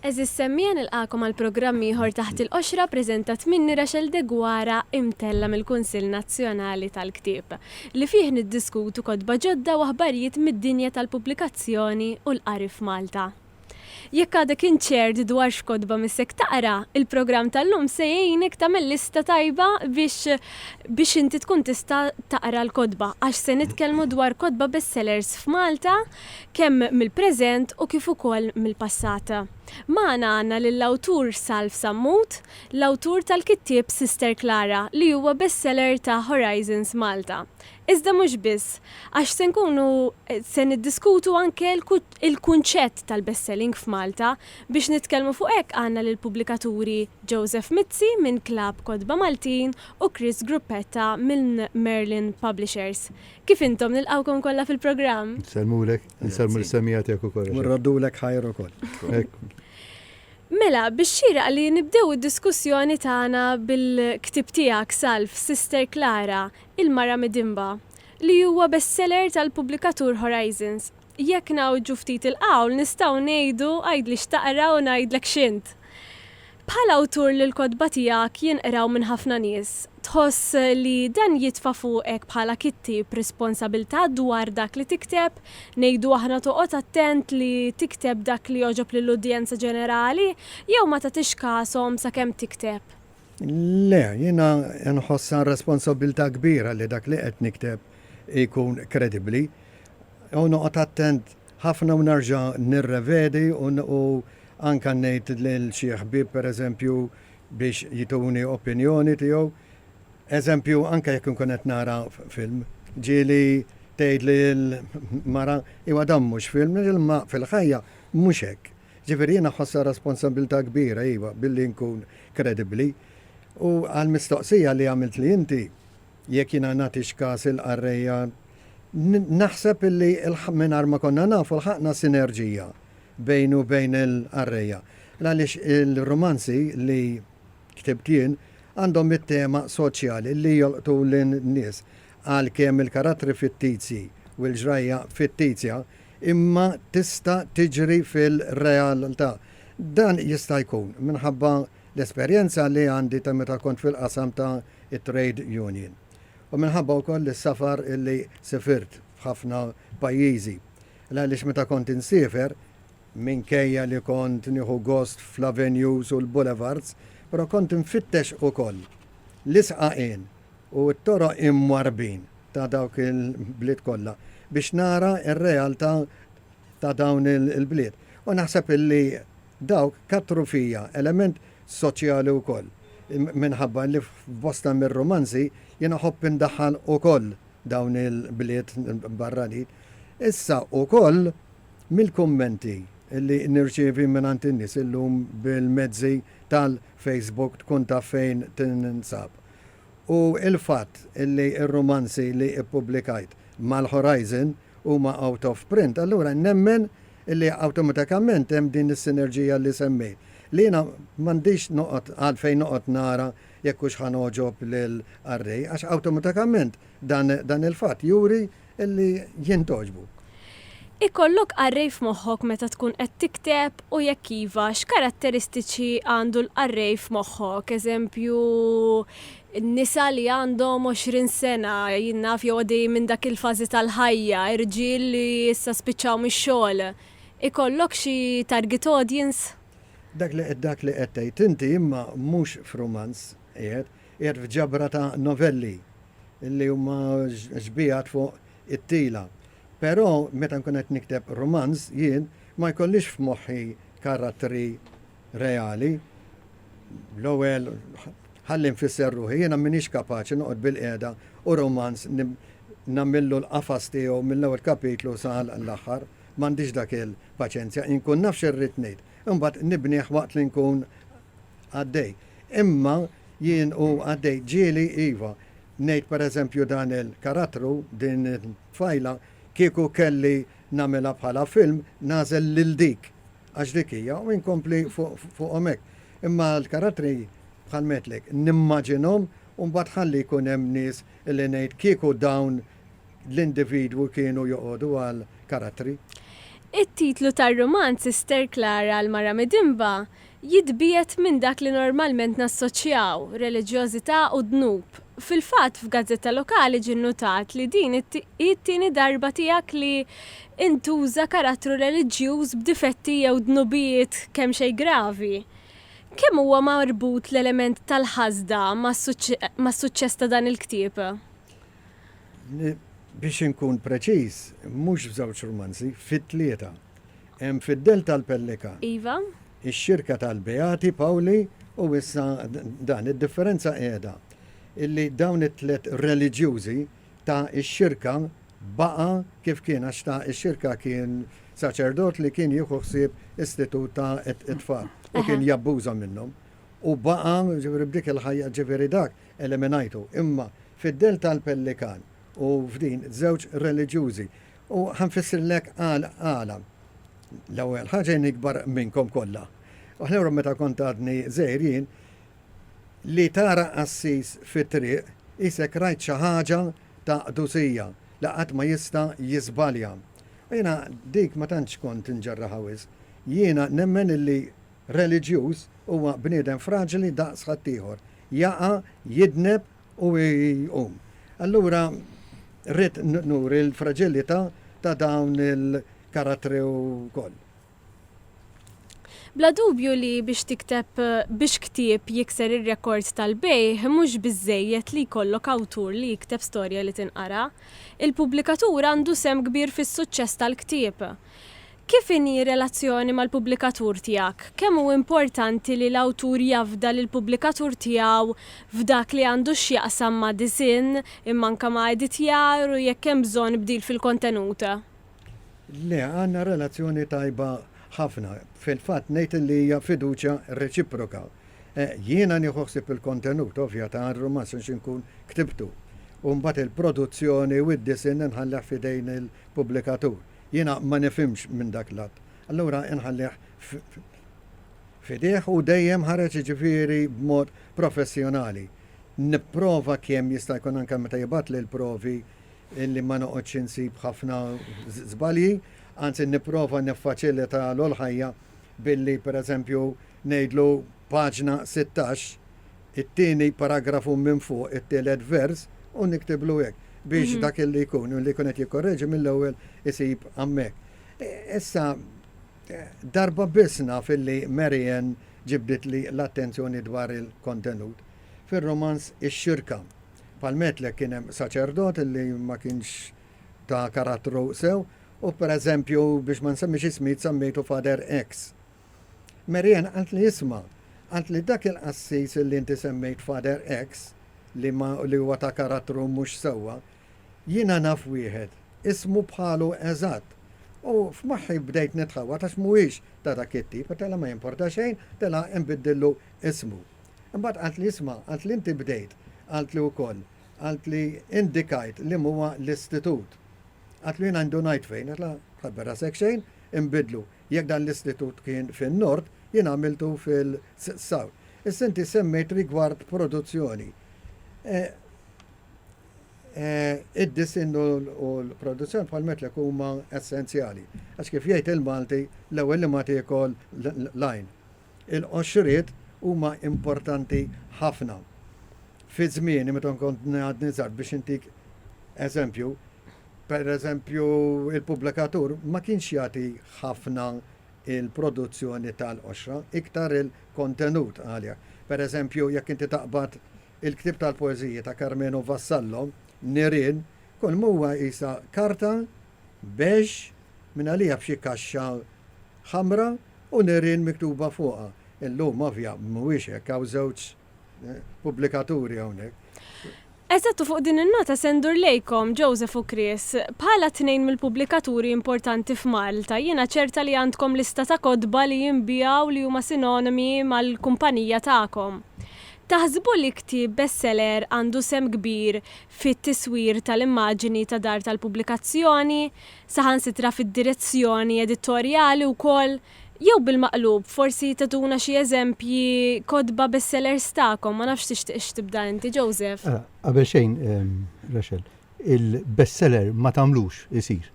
Għeżież semmiegħa nilqagħkom għal programm ieħor Taħt il-Qoxra preżentat minni Rachel Deguara imtella' mill-Kunsill Nazzjonali tal-Ktieb, li fih niddiskutu kotba ġodda u aħbarijiet mid-dinja tal-pubblikazzjoni u l-qari f'Malta. Jekk għadek inċert dwar x'kotba missek taqra, il-programm tal-lum se jgħinek tagħmel lista tajba biex biex inti tkun tista' taqra l-kotba għax se nitkellmu dwar kotba bestsellers f'Malta kemm mill-preżent u kif ukoll mill-passat. Magħna għandna lill-awtur Salv Sammut, l-awtur tal-kittieb Sister Klara li huwa bestseller ta' Horizons Malta. Iżda mhux biss, għax se nkunu se niddiskutu anke l-kunċett tal-bestselling f'Malta. Biex nitkellmu fuq hekk għandna lill-pubblikaturi Joseph Mizzi minn Klabb Kotba Maltin u Chris Gruppetta minn Merlin Publishers. Kif intom? Nilqgħukom kollha fil-programm. Nsellmulek, insellmu lis-semmiegħa tiegħek ukoll. U nroddulek ħajr ukoll. Hekk. Mela, bix-xieraq li nibdew id-diskussjoni tagħna bil-ktieb tiegħek, Salv, Sister Klara, il-Mara Midinba, li huwa bestseller tal-pubblikatur Horizons. Jekk ngħawġu ftit il-qawl nistgħu ngħidu għidli x'taqra u ngħidlek x'int. Bħal awtur li l-kotba tiegħek jinqraw minn ħafna nies, tħoss li dan jitfa' fuqek bħala kittieb responsabilità dwar dak li tikteb, ngħidu aħna toqgħod attent li tikteb dak li jogħġob lill-udjenza ġenerali jew ma tagħtix kashom sakemm tikteb? Le, jiena nħossha responsabilità kbira li dak li qed nikteb ikun kredibbli. u noqgħod attent ħafna u nerġa' nirrevedi u anke ngħid lil xi ħbieb pereżempju biex jituni opinjoni tiegħu. Eżempju, anke jekk inkun qed nara film, ġieli tgħidli l-mara, iva dan mhux film, imma fil-ħajja mhux hekk. Ġifieri jiena ħossha responsabbiltà kbira, iva, billi nkun kredibbli. U għall-mistoqsija li għamiltli inti, jekk jiena nagħtix kas il-qarrejja, naħseb illi mingħajr ma konna nafu lħaqna sinerġija bejni u bejn il-qarrejja. Għaliex il-rumanzi li ktibt jien għandhom it-tema soċjali li jolqtu lin-nies għalkemm il-karattri fittizji u l-ġrajja fittizja imma tista' tiġri fil-realtà. Dan jista' jkun minħabba l-esperjenza li għandi ta' meta kont fil-qasam ta' it-trade union u minħabba wkoll is-safar illi sifirt f'ħafna pajjiżi. L-għaliex meta kont insifer, minkejja li kont nieħu gost fl-avenues u l-boulevards, però kont infittex ukoll l-isqaqien u t-toroq imwarrbin ta' dawk il-bliet kollha biex nara r-realtà ta' dawn il-bliet. U naħseb illi. Dawk kattru fija element soċjali wkoll, minħabba li f'bosta mir-rumanzi jien iħobb indaħħal ukoll dawn il-bliet barranin. Issa ukoll mill-kummenti li nirċievi mingħand in-nies illum bil-mezzi tal-Facebook tkun taf fejn tinsab. U l-fatt li r-rumanzi li ppubblikajt mal-Horizon, huma out of print, allura nemmen li awtomatikament hemm din is-sinerġija li semmejt. Li jiena m'għandix noqgħod għalfejn noqgħod nara jekk hux ħa ngħoġob lill-qarrej, għax awtomatikament dan dan il-fatt juri li jien togħġbu. Ikollok qarrej f'moħħok meta tkun qed tikteb u jekk iva, x'karatteristiċi għandu l-qarrej f'moħħok? Eżempju, Nisa li għandhom 20 sena, jien naf, jew għaddejjin minn dak il-fażi tal-ħajja, irġiel li issa spiċċaw mix-xogħol. Ikollok xi target audience? Dak li dak li qed tgħid inti imma mhux f'rumanz qiegħed, qiegħed f'ġabra ta' novelli li huma xbiehat fuq it-tila. Però meta nkun qed nikteb rumanz jien ma jkollix f'moħħi karattri reali, l-ewwel ħalli nfisser ruħi, jiena m'iniex kapaċi noqgħod bilqiegħda u rumanz nagħmillu l-qafas tiegħu mill-ewwel kapitlu sa l-aħħar, m'għandix dak il-paċenzja, inkun naf x'irrid ngħid, imbagħad nibnih waqt li nkun għaddej. Imma jien u għaddej ġieli iva, ngħid pereżempju dan il-karattru, din it-tfajla, kieku kelli nagħmilha bħala film, nagħżel lil dik Għax dik hija, u inkompli fuqhom hekk. Imma l-karattri bħal ngħidlek, nimmaġinhom u mbagħad ħalli jkun hemm nies li ngħid kieku dawn l-individwi kienu joqogħdu għal karattri. It-titlu tar-rumanz Sister Clara l-Mara Midinba jitbiegħed minn dak li normalment nassoċjaw, reliġjożità u dnub. Fil-fatt, f'gazzetta lokali ġie nnutat li din hi t-tieni darba tiegħek li intuża karattru reliġjuż b'difetti jew dnubijiet kemxejn gravi. Kemm huwa marbut l-element tal-ħasda mas-suċċess ta' dan il-ktieb? Biex inkun preċiż, mhux f'żewġ rumanzi, fi tlieta. Hemm Fid-dell tal-Pellika. Iva. Ix-Xirka tal-Beati Pawli u issa dan. Id-differenza qiegħda illi dawn it-tliet reliġjużi ta' ix-xirka baqa' kif kien għax ta' ix-xirka kien saċerdot li kien jieħu ħsieb istitut ta' it-tfal u kien jabbuża minnhom u baqa' ġifieri b'dik il-ħajja ġifieri dak eliminajtu imma fid-dell tal-pellikan u f'din żewġ reliġjużi u ħa nfissirlek għal għala l-ewwel ħaġa jien ikbar minnkom kollha u allura meta kont għadni żgħir jien Li tara qassis fit-triq qisek rajt xi ħaġa ta' qdusija li qatt ma jista' jiżbalja. U jiena dik ma tantx kont nġerraha wisq. Jiena nemmen illi reliġjuż huwa bniedem fraġli daqs ħaddieħor, jaqa', jidneb u jqum. Allura rrid nuri l-fraġilità ta' dawn il-karattri wkoll. Bla dubju li biex tikteb biex ktieb jikser ir-rekord tal-bejgħ mhux biżżejjed li jkollok awtur li jikteb storja li tinqara. Il-pubblikatur għandu sehem kbir fis-suċċess tal-ktieb. Kif inhi r-relazzjoni mal-pubblikatur tiegħek? Kemm hu importanti li l-awtur jafda lill-pubblikatur tiegħu f'dak li għandu x'jaqsam ma' disinn, imma anke ma' editjar u jekk hemm bżonn bdil fil-kontenut? Le, għandna relazzjoni tajba ħafna. Fil-fatt ngħid li hija fiduċja reċiproka. Jiena nieħu ħsieb il-kontenut, ovvja, ta' rumanz għax inkun ktibtu. U mbagħad il-produzzjoni u d-disinn inħallih f'idejn il-pubblikatur. Jiena ma nifhimx minn dak l-att. Allura inħallih f'idejh u dejjem ħareġ jiġifieri b'mod professjonali. Nipprova kemm jista' jkun anke meta jibgħatli l-provi illi ma noqgħodx insib ħafna żbalji, anzi nipprova niffaċilita l-ħajja billi pereżempju ngħidlu paġna sittax, it-tieni paragrafu minn fuq, it-tielet vers, u niktiblu hekk biex dak illi jkun illi jkun qed jikkorreġi mill-ewwel isib hemmhekk. Issa darba biss naf illi Mary Ann ġibditli l-attenzjoni dwar il-kontenut, fir-rumanz Ix-Xirka. Bħal Metlek kien hemm saċerdot li ma kienx ta' karattru sew u pereżempju biex ma nsemmix ismijiet semmejtu Father X. Mary Ann qaltli isma', qaltli dak il-qassis li inti semmejt Father X li ma li huwa ta' karattru mhux sewwa, jiena naf wieħed, ismu bħalu eżatt. U f'moħħi bdejt nitħawwad għax mhuwiex ta' dak it-tip, telha ma jimporta xejn, telha inbiddillu ismu. Imbagħad qaltli, Isma', qaltli inti bdejt, qaltli wkoll, qaltli indikajt li m'huwa l-istitut. Qaltlu jiena indunajt fejn, għedtla, ħabber rasek xejn, inbidlu, jekk dan l-istitut kien fin-Nord, jien għamiltu fil-South. Issa inti semmejt rigward produzzjoni. Id-disinn u l-produzzjoni bħal metlek huma essenzjali. Għax kif jgħid il-Malti, l-ewwel li ma tiekol l-għajn. Il-qoxriet huma importanti ħafna. Fi żmieni meta nkont għadni żgħar biex intik eżempju, pereżempju il-pubblikatur ma kienx jagħti ħafna il-produzzjoni tal-qoxra, iktar il-kontenut għaliha. Pereżempju, jekk inti taqbad il-ktieb tal-poeżiji ta' Karmenu Vassallo, Nirien, kulma huwa qisha karta, beige, mingħalija b'xi kaxxa ħamra u nirien miktuba fuqha. Illum ovvja mhuwiex hekk hawn żewġ pubblikaturi hawnhekk. Eżatt u fuq din in-nota se ndur lejkom, Joseph u Chris. Bħala tnejn mill-pubblikaturi importanti f'Malta, jiena ċerta li għandkom lista ta' kotba li jinbiegħu li huma sinonimi mal-kumpanija tagħkom. Taħsbu li ktieb bestseller għandu sehem kbir fit-tiswir tal-immaġini ta' dar tal-pubblikazzjoni, saħansitra fid-direzzjoni editorjali wkoll, jew bil-maqlub, forsi tagħtuna xi eżempji kotba bestsellers tagħkom, ma nafx tixtiqx tibda inti, Joseph? Qabel xejn, Rachel, il-bestseller ma tagħmlux isir.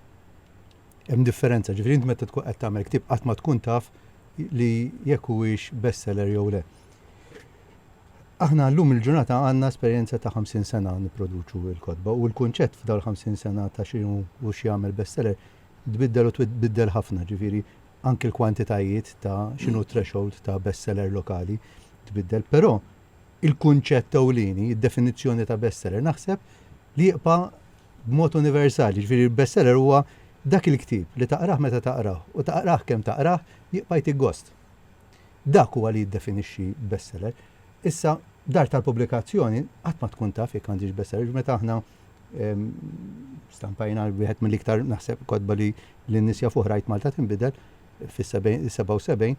Hemm differenza, ġifieri int meta tkun qed tagħmel ktieb qatt ma tkun taf li jekk huwiex bestseller jew le. Aħna llum il-ġurnata għandna esperjenza ta' ħamsin sena nipproduċu l-kotba u l-kunċett f'dawn il-ħamsin sena ta' x'inhu u x'jagħmel bestseller tbiddel u tbiddel ħafna, ġifieri anki l-kwantitajiet ta' x'inhu t-threshold ta' bestseller lokali tbiddel. Però il-kunċett ewlieni, id-definizzjoni ta' bestseller naħseb li jibqa' b'mod universali, ġifieri bestseller huwa dak il-ktieb li taqrah meta taqrah u taqrah kemm taqrah jibqa' jtik gost. Dak huwa li jiddefinixxi bestseller. Issa, dar tal-pubblikazzjoni qatt ma tkun taf jekk għandhiex bestseller, jiġifieri meta aħna stampajna wieħed mill-iktar naħseb kotba li n-nies jafuh Rajt Malta Tinbidel fis-77,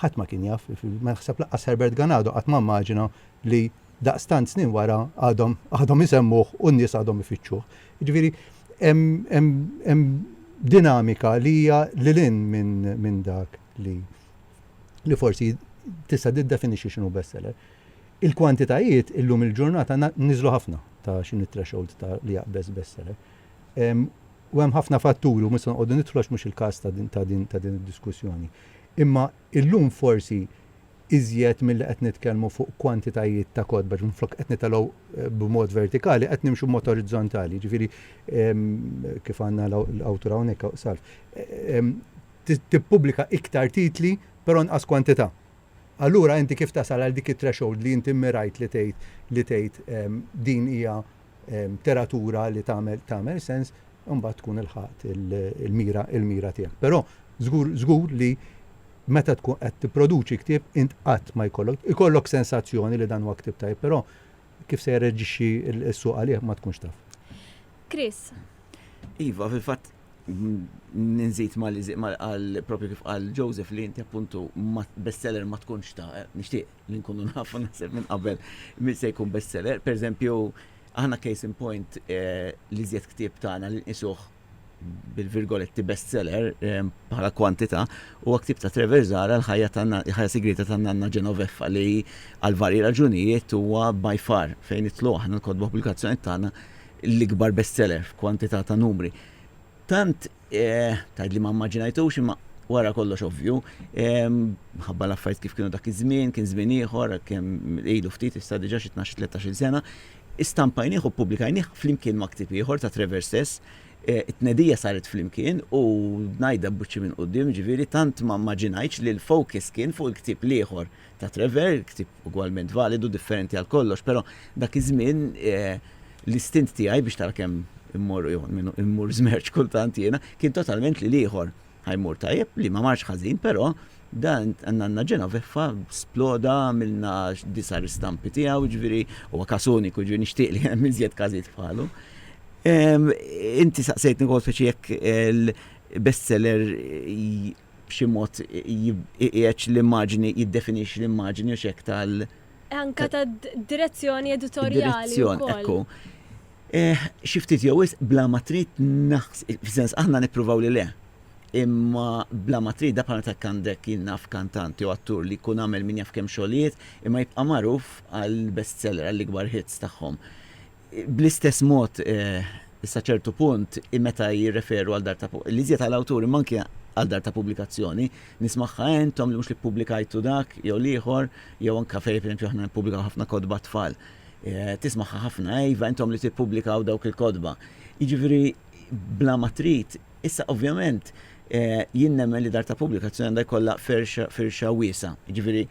ħadd ma kien jaf, naħseb lanqas Herbert Ganado qatt ma mmaġina li daqstant snin wara għadhom isemmuh u n-nies għadhom ifittxuh. Jiġifieri hemm dinamika li hija lil hinn minn dak. li li forsi tista' tiddefinixxi x'inhu bestseller. Il-kwantitajiet illum il-ġurnata niżlu ħafna ta' x'inhi threshold ta' li jaqbeż bestseller. U hemm ħafna fatturi u mhux se noqogħdu nidħlu għax mhux il-każ ta' din ta' din ta' din id-diskussjoni. Imma illum forsi iżjed milli qed nitkellmu fuq kwantitajiet ta' kotba, ġifieri minflok qed nitalgħu eh, b'mod vertikali, qed nimxu b'mod orizzontali, ġifieri kif għandna l-awtur hawnhekk salf. tippubblika iktar titli però inqas kwantità. Allura inti kif tasal għal dik it-threshold li inti mmirajt li tgħid li tgħid din hija teratura li tagħmel tagħmel sens imbagħad tkun ilħaqt il-mira il-mira tiegħek. Però żgur żgur li meta tkun qed tipproduċi ktieb int qatt ma jkollok ikollok sensazzjoni li dan huwa ktieb tajjeb però kif se jirreaġixxi s-suq għalih ma tkunx taf. Chris. Iva, fil-fatt Nżid ma li qal propju kif qal Joseph li inti appuntu bestseller ma tkunx ta' nixtieq li nkunu nafu naħseb minn qabel min se jkun bestseller. Per eżempju, aħna case in point li żjed ktieb tagħna li nqisuh bil-virgoletti bestseller bħala kwantità huwa ktieb ta' Trevor Zahra l-ħajja sigrieta tan-nanna Genoveffa li għal varji raġunijiet huwa by far fejn nidħlu aħna l-kotba pubblikazzjonijiet tagħna l-ikbar bestseller f'kwantità ta' numri. Tant, tgħidli ma mmaġinajtux imma wara kollox ovvju, minħabba l-affarijiet kif kienu dak iż-żmien, kien żmien ieħor, kemm ilu ftit issa diġà xi tnax-il tlettax-il sena, istampajnieh u ppubblikajnieh flimkien ma' ktieb ieħor ta' Trevor stess. It-tnedija saret flimkien u ngħidha b'wiċċi minn quddiem, jiġifieri tant ma mmaġinajtx li l-focus kien fuq il-ktieb l-ieħor ta' Trevor, ktieb ugwalment validu, differenti għal kollox, però dak iż-żmien l-istint tiegħi biex tara kemm immorru jew almenu immur żmerċ kultant jiena, kien totalment li l-ieħor ħa jmur tajjeb, li ma marx ħażin, però dan Nanna Genoveffa sploda, għamilna disa' ristampi tiegħu, jiġifieri huwa każ uniku, jiġifieri nixtieq li hemm iżjed każijiet bħalu. Inti saqsejtni wkoll speċi jekk il-bestseller b'xi mod iqiegħed l-immaġini, jiddefinixxi l-immaġini u x'hekk tal-. Anke tad-direzzjoni editorjali. Direzzjoni, ekku. Xi ftit jew wisq bla ma trid naħseb, f'sens aħna nippruvaw li le, imma bla ma trid da bħalma jekk għandek jien naf kantant jew attur li jkun għamel min jaf kemm xogħlijiet imma jibqa' magħruf għall-bestseller, għall-ikbar hits tagħhom. Bl-istess mod, sa ċertu punt, meta jirreferu għal dar ta' l-iżjed għal awtur imma anki għal dar ta' pubblikazzjoni, nies magħha entom li mhux li ppubblikajtu dak jew l-ieħor, jew anke fejn pereżempju aħna nippubblikaw ħafna kotba għat-tfal. Tismagħha ħafna, eh iva entom li tippubblikaw dawk il-kotba. Jiġifieri bla ma trid. Issa ovvjament jien nemmen li dar ta' pubblikazzjoni għandha jkollha ferxa firxa wiesgħa. Jiġifieri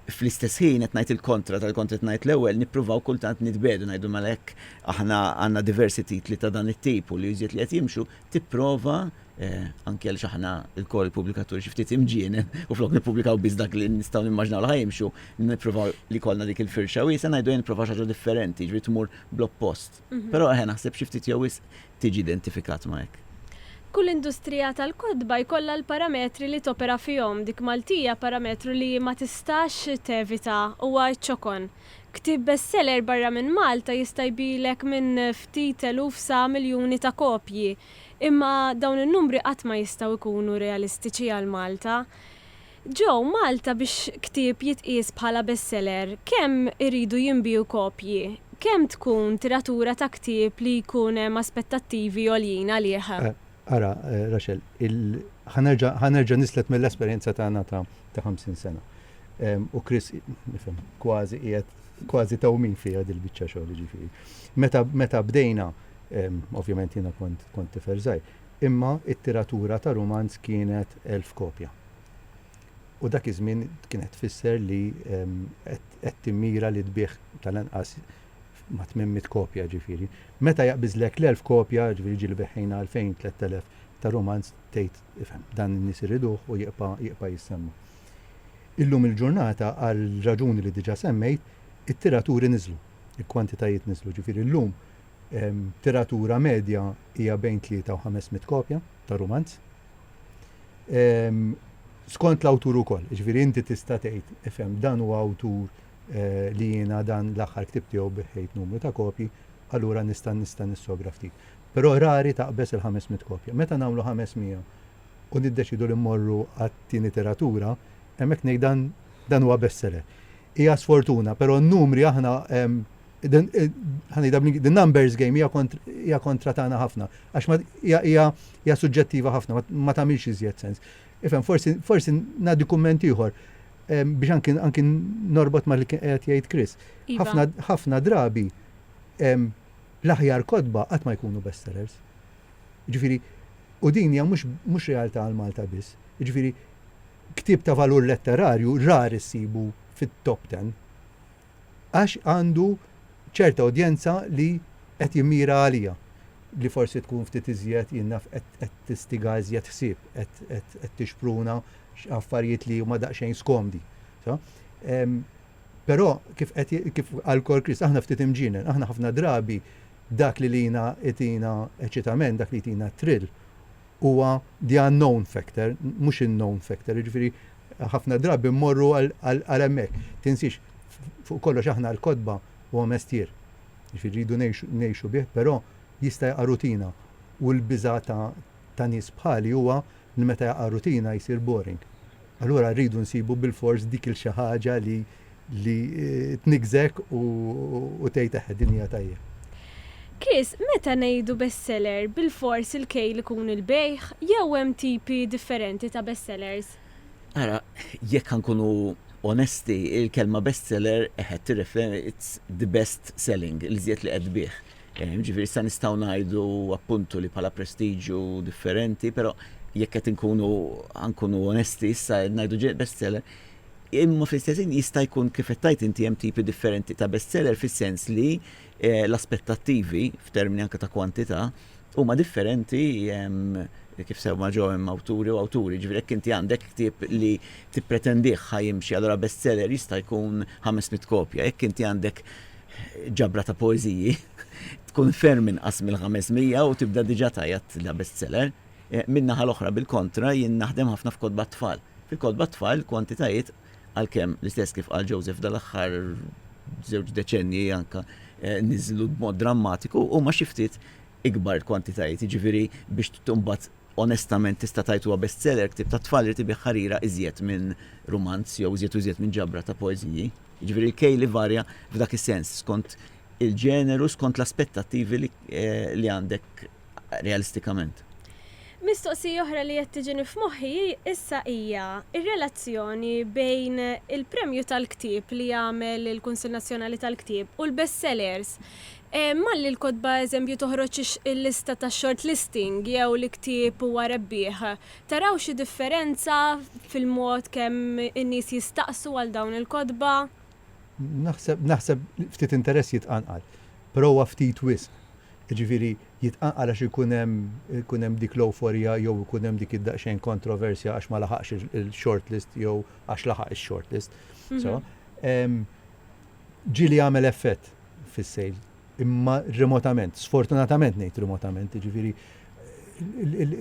Fl-istess ħin qed ngħid il-kontra tal-li kont qed ngħid l-ewwel, nippruvaw kultant nitbiegħdu ngħidu mela jekk aħna għandna diversi titli ta' dan it-tip u li iżjed li qed jimxu, tipprova, anki għaliex aħna lkoll il-pubblikaturi xi ftit imġienen u flok nippubblikaw biss dak li nistgħu nimmaġinaw li ħa jimxu, nippruvaw li jkollna dik il-firxa wiesgħa, ngħidu ejja nipprovaw xi ħaġa differenti, jiġifieri tmur bl-oppost. Però eħe naħseb xi ftit jew wisq tiġi identifikat ma' hekk. Kull industrija tal-kotba jkollha l-parametri li topera fihom. Dik Maltija parametru li ma tistax tevita, huwa ċ-ċokon. Ktieb bestseller barra minn Malta jista' jbigħlek minn ftit eluf sa miljuni ta' kopji. Imma dawn in-numri qatt ma jistgħu jkunu realistiċi għal Malta. Ġo Malta biex ktieb jitqies bħala bestseller kemm iridu jinbiegħu kopji? Kemm tkun tiratura ta' ktieb li jkun hemm aspettattivi għoljin għalih? Ara, Rachel, ħa nerġa' nislek mill-esperjenza tagħna ta' ħamsin sena. U Chris, nifhem, kważi qiegħed kważi tawmin fiha dil-biċċa xogħol, jiġifieri. Meta bdejna, ovvjament jiena kont tifel żgħir, imma t-tiratura ta' rumanz kienet elf kopja. u dak iż-żmien kienet tfisser li qed timmira li tbigħ tal-anqas ma' 800 kopja ġifieri. Meta jaqbiżlek l-elf kopja, ġifieri ġieli beħħejna 2000, 3000 ta' rumanz tgħid ifhem, dan in-nies iriduh u jibqa' jissemma. Illum il-ġurnata għal raġuni li diġà semmejt, it-tiraturi niżlu, il-kwantitajiet niżlu, ġifieri llum tiratura medja hija bejn tlieta u ħames mitt kopja ta' rumanz. skont l-awtur ukoll. Ġifieri inti tista' tgħid, ifhem dan huwa awtur eh, li jiena dan l-aħħar ktib tiegħu biħħejt numru ta' kopji, allura nista' nista' nissogra ftit. Però rari taqbeż il-500 kopja. Meta nagħmlu 500 u niddeċidu li mmorru għat-tieni tiratura, hemmhekk ngħid dan dan huwa bestseller. hija sfortuna, pero n-numri aħna the numbers game hija kontra tagħna ħafna, għax hija suġġettiva ħafna, ma tagħmilx iżjed sens. Ifhem, forsi ngħaddi kumment ieħor biex anki norbot ma li kien qed jgħid Chris. Iva. Ħafna drabi l-aħjar kodba qatt ma jkunu bestsellers. Ġifieri, u din hija mhux realtà għal Malta biss. Ġifieri, ktieb ta' valur letterarju rar issibu fit-top ten għax għandu ċerta udjenza li qed jimmira għaliha li forsi tkun ftit iżjed, jien naf, qed tistiga iżjed ħsieb, qed tixpruna affarijiet li huma daqsxejn skomdi. Però kif qal Cor Christ, aħna ftit imġienen, aħna ħafna drabi dak li lina itina eċitament, dak li jtina thrill, huwa the unknown factor, mhux in-known factor, jiġifieri ħafna drabi mmorru għal hemmhekk. Tinsiex, fuq kollox aħna l-kotba huwa mestier, jiġifieri rridu ngħixu bih, però jista' jaqa' rutina u l-biża' ta' nies bħali huwa li meta jaqa' rutina jsir boring. Allura rridu nsibu bilfors dik il-xi ħaġa li li tniggżek u tgħid eħe din hija tajjeb. Chris, meta ngħidu bestseller, bilfors il-kejl ikun il-bejgħ, jew hemm tipi differenti ta' bestsellers? Ara, jekk ħa nkunu onesti, il-kelma bestseller eħe tirreferi it's the best selling, l-iżjed li qed tbigħ. Jiġifieri issa nistgħu ngħidu appuntu li bħala prestiġju differenti, però jekk qed inkunu ħa nkunu onesti issa qed ngħidu ġej bestseller, imma fl-istess ħin jista' jkun kif qed tgħid inti hemm tipi differenti ta' bestseller fis-sens li l-aspettattivi f'termini anke ta' kwantità huma differenti kif semma Joe hemm awturi u awturi. Jiġifieri jekk inti għandek ktieb li tippretendih ħa jimxi allura bestseller jista' jkun ħames mitt kopja. Jekk inti għandek ġabra ta' poeżiji tkun ferm inqas mill-500 u tibda diġà tgħajjat la bestseller. Eh, min-naħa l-oħra bil-kontra jien naħdem ħafna f'kotba tfal. Fil-kotba tfal kwantitajiet għalkemm l-istess kif qal Joseph dal-aħħar żewġ deċenji anka eh, niżlu b'mod drammatiku u ma xiftit ikbar kwantitajiet, ġifiri biex tumbat Onestament tista' tgħid huwa bestseller, ktieb tat-tfal irid ibiegħ ħarira iżjed minn rumanz jew iżjed u iżjed minn ġabra ta' poeżiji. Jiġifieri l-kejl ivarja f'dak is-sens, skont il-ġeneru, skont l-aspettattivi li għandek realistikament. Mistoqsija oħra li qed tiġini f'moħħi issa hija r-relazzjoni bejn il-premju tal-ktieb li jagħmel il-Kunsill Nazzjonali tal-Ktieb u l-bestsellers Malli l-kotba eżempju toħroġ il-lista tax-shortlisting jew li ktieb huwa rebbieħ, taraw xi differenza fil-mod kemm in-nies jistaqsu għal dawn il-kotba? Naħseb, naħseb ftit interess jitqanqal, però huwa ftit wisq. Jiġifieri jitqanqal għax ikun hemm, ikun hemm dik l-ewforija jew ikun hemm dik id-daqsxejn kontroversja għax ma laħaqx il-shortlist jew għax laħaq ix-shortlist. Sewa? Ġieli għamel effett fis-sale, imma remotament, sfortunatament ngħid remotament, jiġifieri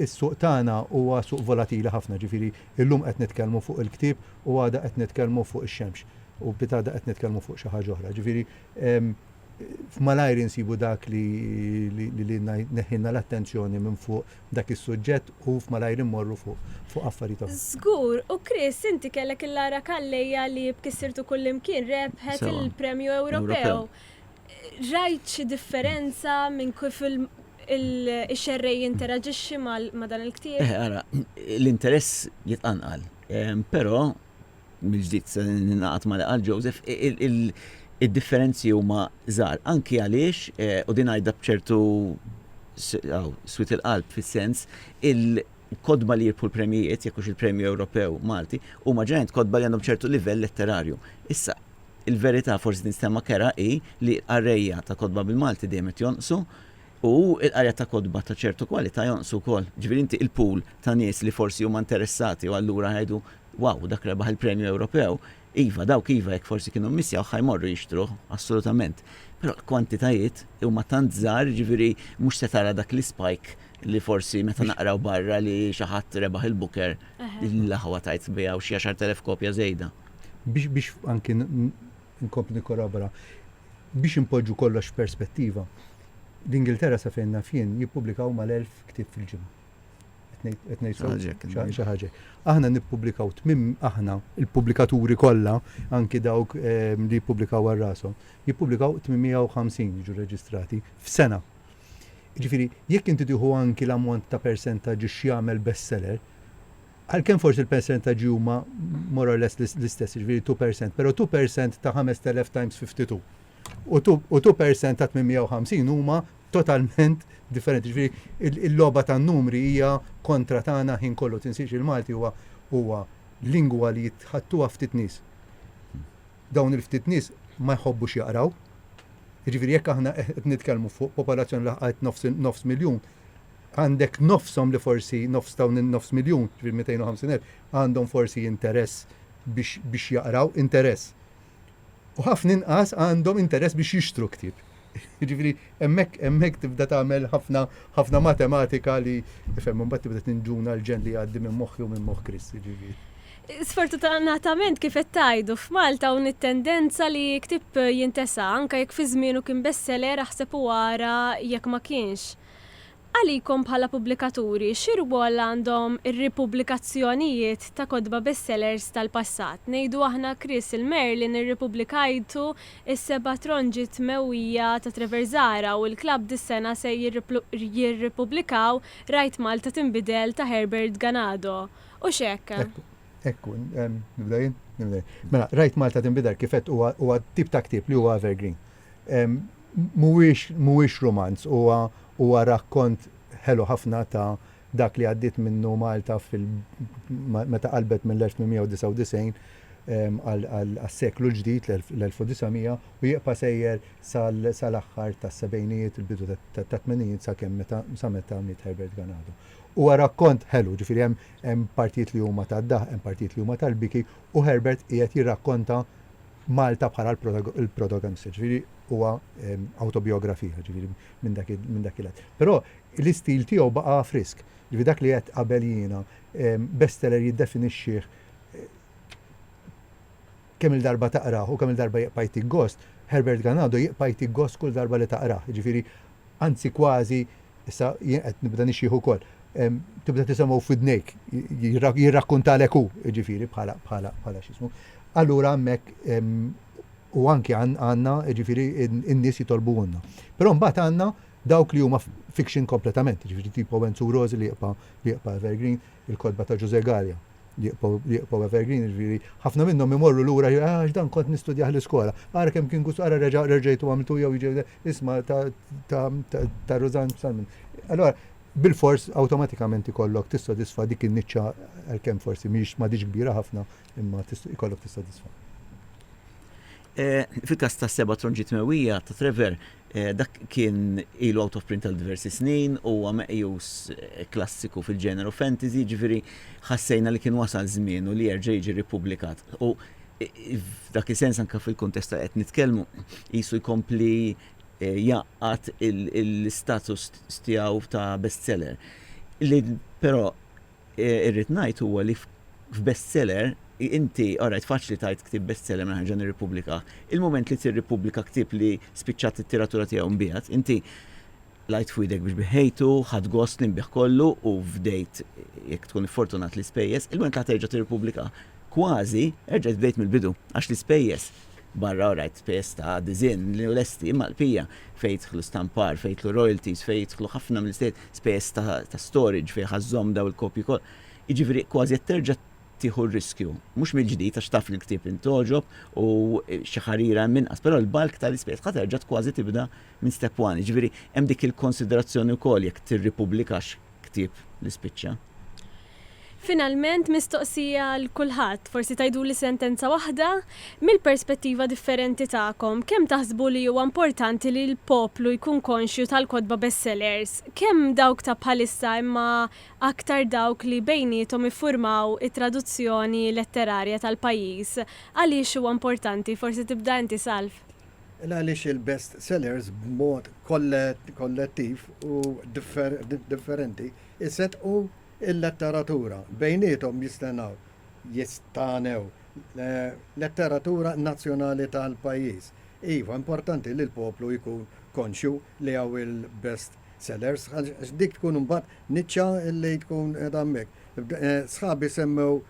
is-suq tagħna huwa suq volatili ħafna, jiġifieri illum qed nitkellmu fuq il-ktieb u għada qed nitkellmu fuq ix-xemx u pitgħada qed nitkellmu fuq xi ħaġa oħra. Jiġifieri malajr insibu dak li lilna jneħħilna l-attenzjoni minn fuq dak is-suġġett u f'malajr immorru fuq fuq affarijiet oħra. Żgur, u Chris inti kellek il-Lara Calleja li b'kissirtu kullimkien rebħet Sewa. il-Premju Ewropew. Ewropew. Rajt xi differenza minn kif il il ix-xerrej jinteraġixxi ma' ma' dan il-ktieb? Eħe ara, l-interess jitqanqal. Ehm, però mill-ġdid se ningħaqad ma' li qal Joseph, id-differenzi huma żgħar. Anki għaliex, u din ngħidha b'ċertu swied il-qalb fis-sens, il-kotba li jirbħu l-premjijiet, jekk hux il-Premju Ewropew Malti, huma ġeneralment kotba li għandhom ċertu livell letterarju. Issa, il-verità, forsi tinstema' kerha, hi li l-qarrejja ta' kotba bil-Malti dejjem qed jonqsu, U l-qrija ta' kotba ta' ċertu kwalità jonqsu wkoll. Ġifieri inti il-pool ta' nies li forsi huma interessati u allura jgħidu, wow, dak rebaħ il-premju Ewropew, iva, dawk iva jekk forsi kienu mmissjawh ħa jmorru jixtruh, assolutament. Però l-kwantitajiet huma tant żgħar, jiġifieri mhux se tara dak l-ispike li forsi meta naqraw barra li xi ħadd rebaħ il-Booker, l-aħwa tgħid tbiegħu xi għaxart elef kopja żejda. Biex anki nkompli nikkorrobora, Biex inpoġġu kollox f'perspettiva, l-Ingilterra sa fejn naf jien jippubblikaw mal-elf ktieb fil-ġimgħa. Qed ngħid qed ngħid sew? Ħaġa hekk. Xi xi ħaġa hekk. Aħna nippubblikaw tmim aħna l-pubblikaturi kollha, anki dawk ehm, li jippubblikaw għal rashom, jippubblikaw 850 jiġu rreġistrati f'sena. Jiġifieri, jekk inti tieħu anki l-ammont ta' persentaġġ x'jagħmel bestseller, għalkemm forsi l-persentaġġi huma more or less l-istess, jiġifieri two percent, però two percent ta' 5,000 times 52 u two u two percent ta' 850 huma totalment differenti. Jiġifieri il-logħba tan-numri hija kontra tagħna ħin kollu. Tinsiex il-Malti huwa huwa lingwa li jitħattuha ftit nies. Dawn il-ftit nies ma jħobbux jaqraw. Jiġifieri jekk aħna qed nitkellmu fuq popolazzjoni li laħqet nofs miljun, Għandek nofshom li forsi, nofs ta' dawn in-nofs miljun, ġifieri 250 elf, għandhom forsi interess biex biex jaqraw, interess. U ħafna inqas għandhom interess biex jixtru ktieb. Jiġifieri hemmhekk hemmhekk tibda tagħmel ħafna ħafna matematika li ifhem imbagħad tibda tinġuna l-ġenn li jgħaddi minn moħħi u minn moħħ Chris, jiġifieri. Sfortutanatament kif qed tgħidu, f'Malta hawn it-tendenza li ktieb jintesa', anke jekk fi żmienu kien bestseller aħseb u ara jekk ma kienx. Għalikom bħala pubblikaturi, xi rwol għandhom ir-ripubblikazzjonijiet ta' kotba bestsellers tal-passat? Ngħidu aħna Chris il Merlin irripubblikajtu s-seba' tronġi tmewwija ta' Trevor Zahra u l-klabb dis-sena se jirripubblikaw Rajt Malta Tinbidel ta' Herbert Ganado, hux hekk? Ekku. Ekku. Nibda jien? Nibda jien. Mela, Rajt Malta Tinbidel kif għedt huwa t-tip ta' ktieb li huwa evergreen. Mhuwiex mhuwiex rumanz, huwa huwa rakkont ħelu ħafna ta' dak li għaddiet minnu Malta fil meta qalbet mill-1899 għas-seklu l-ġdid, l-1900, u jibqa' sejjer sal-aħħar tas-sebgħinijiet, il-bidu tat-tmenijiet sakemm meta sa meta miet Herbert Ganado. Huwa rakkont ħelu, ġifieri hemm hemm partijiet li huma tad-daħq, hemm partijiet li huma tal-biki, u Herbert qiegħed jirrakkonta, Malta bħala l-protagonista, jiġifieri huwa awtobijografija, jiġifieri minn dak minn dak il-att. Però l-istil tiegħu baqa' frisk. Jiġifieri dak li għedt qabel jiena, bestseller jiddefinixxih kemm-il darba taqrah u kemm-il darba jibqa' jtik gost, Herbert Ganado jibqa' jtik gost kull darba li taqrah. Jiġifieri anzi kważi, issa jien qed nibda nixjieħ ukoll, tibda tisimgħu f'widnejk, jirrakkuntalek hu, jiġifieri bħala, bħala, bħala x'ismu. Allura hemmhekk u anki għandna, jiġifieri n-nies jitolbuhulna. Però mbagħad għandna dawk li huma fiction kompletament, jiġifieri tipo Enzo Rosi li jibqa' li jibqa' evergreen, il-kotba ta' Ġużè Galea li jibqgħu evergreen, jiġifieri ħafna minnhom imorru lura jgħidu għax dan kont nistudjah l-iskola. Ara kemm kien gust, ara reġgħitu għamiltu jew jiġi isma' ta' Rużann Salmon. Allura bilfors awtomatikament ikollok tissodisfa dik in-niċċa għalkemm forsi mhix m'għadhiex kbira ħafna imma ikollok tissodisfa. Fil-każ tas-Seba' Tronġi Tmewwija ta' Trevor, Dak kien ilu out of print għal diversi snin u huwa meqjus klassiku fil-ġeneru fantasy, jiġifieri ħassejna li kien wasal żmienu li jerġa' jiġi rippubblikat. U f'dak is-sens anke fil-kuntest ta' qed nitkellmu, qisu jkompli jgħaqqad l-istatus tiegħu ta' bestseller. Li però Irrid ngħid huwa li f'bestseller, inti, alright, faċli tgħid ktieb bestseller mela nerġa' nirrippubblika. Il-mument li tirrippubblika ktieb li spiċċat it-tiratura tiegħu nbiegħed, inti qlajt f'widek biex biħejtu, ħadt gost li nbiegħ kollu u fdejt, jekk tkun iffortunat, l-ispejjeż, il-mument li ħa terġa' tirrippubblika, kważi, erġa' tbdejt mill-bidu, għax l-ispejjeż Barra u rajt spejjeż ta' disinn li hu lesti imma l-bqija fejn jidħlu stampar, fejn jidħlu royalties, fejn jidħlu ħafna mill-iżjed spejjeż ta' storage fejn ħa żżomm dawn il-kopji kollha. Jiġifieri kważi qed terġa' tieħu r-riskju. Mhux mill-ġdid għax taf li l-ktieb int togħġob u xi ħarira hemm inqas, però l-bulk tal-ispejjeż ħa terġa' kważi tibda minn step one. Jiġifieri hemm dik il-konsiderazzjoni wkoll jekk tirripubblikax. ktieb li spiċċa. Finalment, mistoqsija għal kulħadd, forsi tgħiduli sentenza waħda, mill-perspettiva differenti tagħkom, kemm taħsbu li huwa importanti li l-poplu jkun konxju tal-kotba bestsellers, kemm dawk ta' bħalissa imma aktar dawk li bejniethom iffurmaw it-traduzzjoni letterarja tal-pajjiż, għaliex huwa importanti? Forsi tibda inti, Salv. Il għaliex il-best sellers b'mod kollettiv u differenti jseddqu l-letteratura bejniethom jistennew jistagħnew letteratura nazzjonali tal-pajjiż. Iva, importanti li l-poplu jkun konxju li hawn il-best sellers għax dik tkun imbagħad niċċa li tkun qiegħda hemmhekk. Sħabi semmew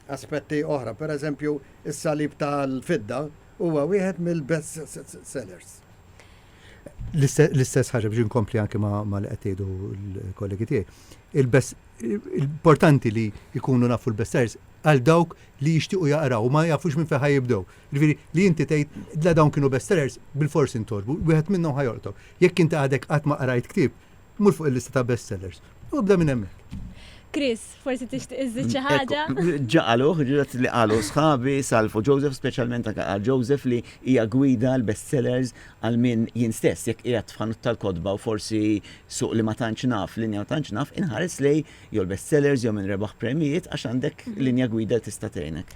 aspetti oħra. Per eżempju, is-salib tal-fidda huwa wieħed mill-best sellers. L-istess ħaġa biex inkompli anke ma li qed jgħidu l-kollegi tiegħi. Il-best importanti li jkunu nafu l-best sellers għal dawk li jixtiequ jaqraw ma jafux minn fejn jibdew. Ġifieri li inti tgħid la dawn kienu best sellers bil-forsi ntolbu, wieħed minnhom ħajoltok. Jekk inti għadek qatt ma qrajt ktieb, Mur fuq il-lista ta' best sellers u ibda minn hemmhekk. Chris, forsi tixtieq iżżid xi ħaġa? Ġaqaluh, ġrat li qalu sħabi, Salvo, Joseph, speċjalment anke qal Joseph li hija gwida l-best sellers għal min jien stess jekk qiegħed f'ħanut tal-kotba u forsi suq li ma tantx naf, linja ma tantx naf, inħares lejn jew l-best sellers jew min rebaħ premjijiet għax għandek linja gwida li tista' tgħinek.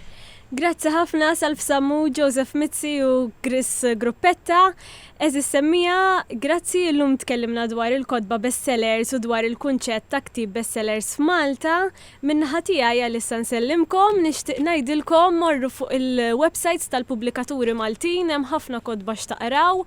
Grazzi ħafna Salv Sammu, Joseph Mizzi u Chris Gruppetta. Għeżież semmiegħa, grazzi illum tkellimna dwar il-kotba best sellers u dwar il-kunċett ta' ktieb best sellers f'Malta. Min-naħa tiegħi għalissa nsellimkom, nixtieq ngħidilkom morru fuq il-websajts tal-pubblikaturi Maltin hemm ħafna kotba x'taqraw,